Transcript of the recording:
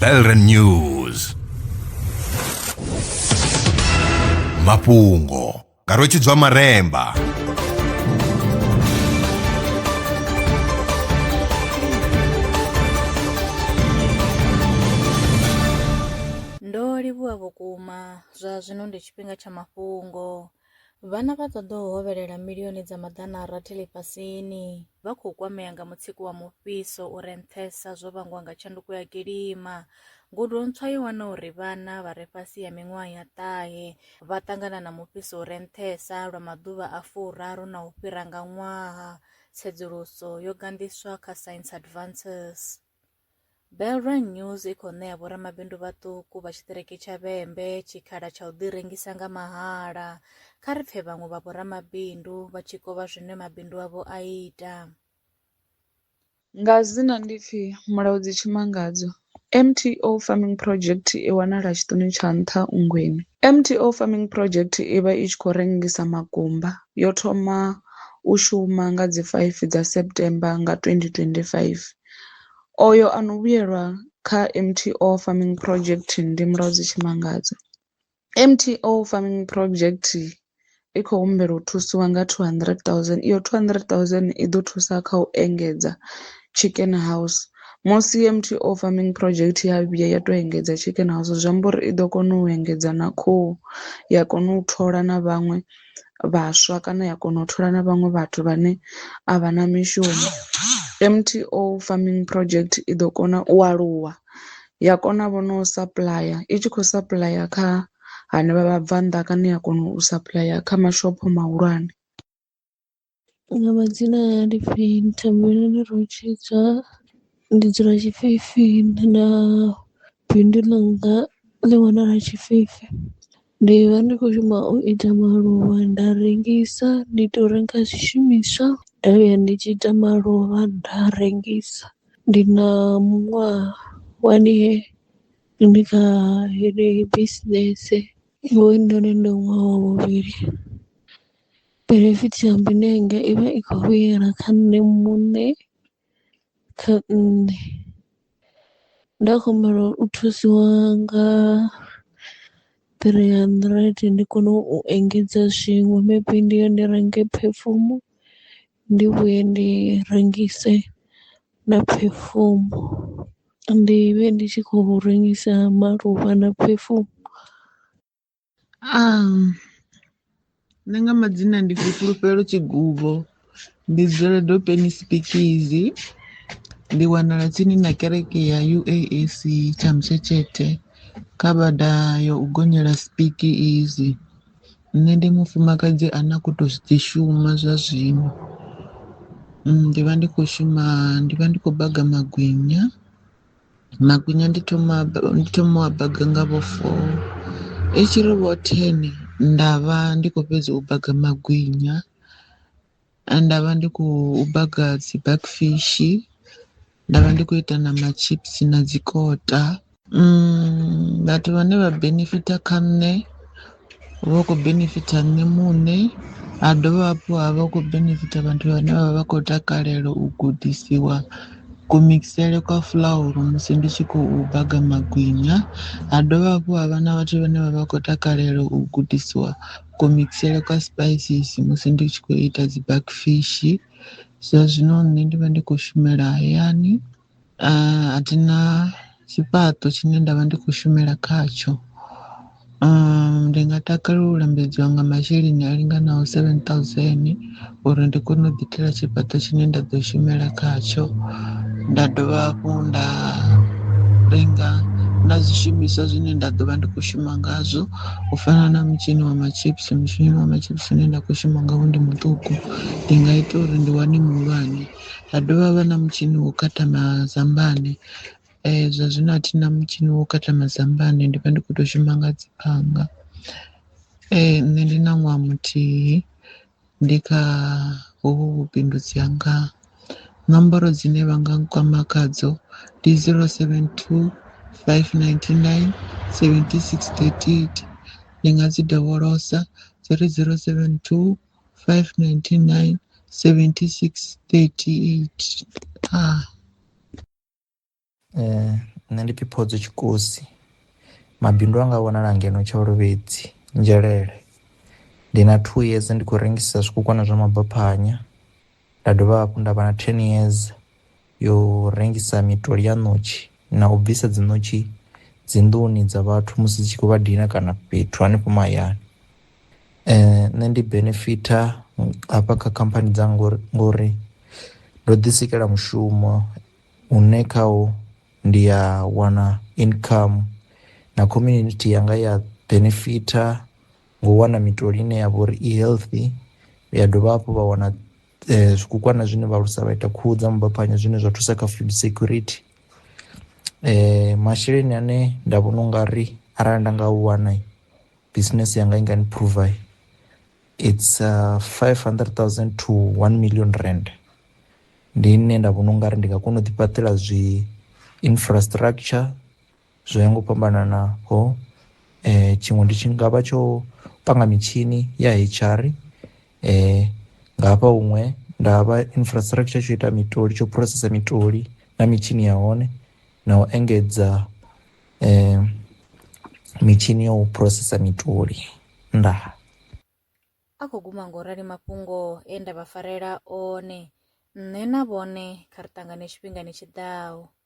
Belren News mafhungo nga rwetshidzwa maremba ndo livhuwa vhukuma zwa zwino ndi tshifhinga tsha mafhungo Vhana vha ṱoḓou hovhelela milioni dza maḓana a rathi ḽifhasini vha khou kwamea nga mutsiko wa mufhiso u re nṱhesa zwo vhangwa nga tshanduko ya kilima. Ngudo ntswa yo wana uri vhana vha re fhasi ha miṅwaha ya ṱahe vha ṱangana na mufhiso u re nṱhesa lwa maḓuvha a furaru na u fhira nga ṅwaha. Tsedzuluso yo ganḓiswa kha Science Advances. Belrun News i khou ṋea vhoramabindu vhaṱuku vha tshiṱiriki tsha Vhembe tshikhala tsha u ḓirengisa nga mahala. Kha ri pfe vhaṅwe vha vhoramabindu vha tshi kovha zwine mabindu avho a ita. Nga dzina ndi pfi Mulaudzi Tshimangadzo. MTO Farming Project i wanala Tshiṱuni tsha Nṱha Ungwini. MTO Farming Project i vha i tshi khou rengisa makumba. Yo thoma u shuma nga dzi 5 dza September nga 2025. Oyo a no vhuyelwa kha M_T_O farming project ndi Mulwadzi Tshimangadzo. M_T_O farming project i khou humbela u thusiwa nga two hundred thousand iyo two hundred thousand i ḓo thusa kha u engedza chicken house musi M_T_O farming project ya vhuya ya to engedza chicken house zwi amba uri i ḓo kona u engedza na khuhu ya kona u thola na vhaṅwe. vhaswa kana ya kona u thola na vhaṅwe vhathu vhane a vha na mishumo. M_T_O farming project i ḓo kona u aluwa ya kona vho no sapuḽaya i tshi kho sapuḽaya kha hanevha vhabvannḓa kana ya kona u sapuḽaya kha mashopho mahulwane. Nga madzina anga ndi pfhi Thembeleni Rutshidzwa ndi dzula Tshifhifi na bindu ḽanga ḽi wanala Tshifhifi ndi vha ndi kho shuma u ita maluvha nda rengisa ndi to renga zwishumiswa nda vhuya ndi tshi ita maluvha nda rengisa ndi na muṅwaha wa ndi ndi kha heneyi bisinese hoyu noni ndi ṅwaha wa vhuvhili. Benefit ya hone ine yanga i vha i khou vhuyelwa kha nṋe muṋe kha nṋe nda kho humbela u thusiwa nga three hundred ndi kone u engedza zwiṅwe maybe ndi ya ndi renge phefumo ndi vhuye ndi rengise na phefumo ndi vhe ndi tshi khou rengisa maluvha na phefumo. Nṋe nga madzina ndi pfhi Fhulufhelo Tshiguvho, ndi dzula Dopeni Sipikizi, ndi wanala tsini na kereke ya UAC Tshamutshetshethe kha bada ya u gonyela Sipikizi. Nṋe ndi mufumakadzi ane a khou tou ḓi shuma zwa zwino, ndi vha ndi khou shuma, ndi vha ndi khou baga magwinya. Magwinya ndi thoma ndi thoma u a baga nga vho four i tshi ri vho ten nda vha ndi khou fhedza u baga magwinya nda vha ndi khou baga dzi back fish nda vha ndi khou ita na ma chips na dzi kota vhathu vhane vha benefitha kha nṋe. Hu vha hu khou benefitha nṋe muṋe ha dovha hafhu ha vha hu khou benefitha vhathu vhane vha vha vha khou takalela u gudisiwa ku mikisele kwa fuḽauru musi ndi tshi khou baga magwinya ha dovha hafhu ha vha na vhathu vhane vha vha khou takalela u gudisiwa ku mikisele kwa sipaisisi musi ndi tshi khou ita dzi bakfishi zwa zwino nṋe ndi vha ndi khou shumela hayani. A a thi na tshifhaṱo tshine nda vha ndi khou shumela khatsho. Ndi nga takalela u lambedziwa nga masheleni a linganaho seven thousand uri ndi kone u ḓi itela tshifhaṱo tshine nda ḓo shumela khatsho. Nda dovha hafhu nda renga na zwishumiswa zwine nda ḓo vha ndi khou shuma ngazwo u fana na mutshini wa matshipisi, mutshini wa matshipisi une nda khou shuma ngawo ndi muṱuku ndi nga ita uri ndi wane muhulwane. ha dovha ha vha na mutshini wo khatha mazambani zwa zwino a thi na mutshini wo khatha mazambani ndi vha ndi kho to shuma nga dzi phanga. Nṋe ndi na ṅwaha muthihi ndi kha hovhu vhubindudzi hanga nomboro dzine vha nga nkwama khadzo ndi zero seven two five ninety nine seventy six thirty eight ndi nga dzi dovholosa dzi ri zero seven two 599 76 38 ah. Eh, nṋe ndi phiphodzo tshikosi mabindu anga vhonala ngeno tsha lovhedzi nzhelele ndi na two years ndi khou rengisa zwikukwana zwa mabaphanya Nda dovha hafhu nda vha na 10 years yo rengisa mitoli ya ṋotshi na u bvisa dzi ṋotshi dzi nḓuni dza vhathu musi dzi tshi khou vha dina kana fhethu hanefho mahayani. Eh nṋe ndi benefitha hafha kha khamphani dza ngori ngori ndo ḓi sikela mushumo une khawo ndi ya wana income na community yanga ya benefitha. ngo u wana mitoli ine ya vha uri i healthy ya dovha hafhu vha wana eh, zwikukwana zwine vha lusa vha ita khuhu dza mubaphanyo zwine zwa thusa kha food security eh masheleni ane nda vhona u nga ri arali nda nga u wana business yanga i nga ni prover it's uh, 500000 to 1 million rand ndi nne nda vhona u nga ri ndi nga kona u ḓifhaṱela zwi infrastructure Zwo ya nga u fhambananaho tshiṅwe ndi tshi ngavha tsho panga mitshini ya H_R nga hafha huṅwe nda vha infrastructure tsho ita mitoli tsho phurosesa mitoli na mitshini ya hone na u engedza mitshini ya u phurosesa mitoli. Ndaa. A khou guma ngo rali mafhungo e nda vha farela one, nṋe na vhone kha ri ṱangane tshifhingani tshi ḓaho.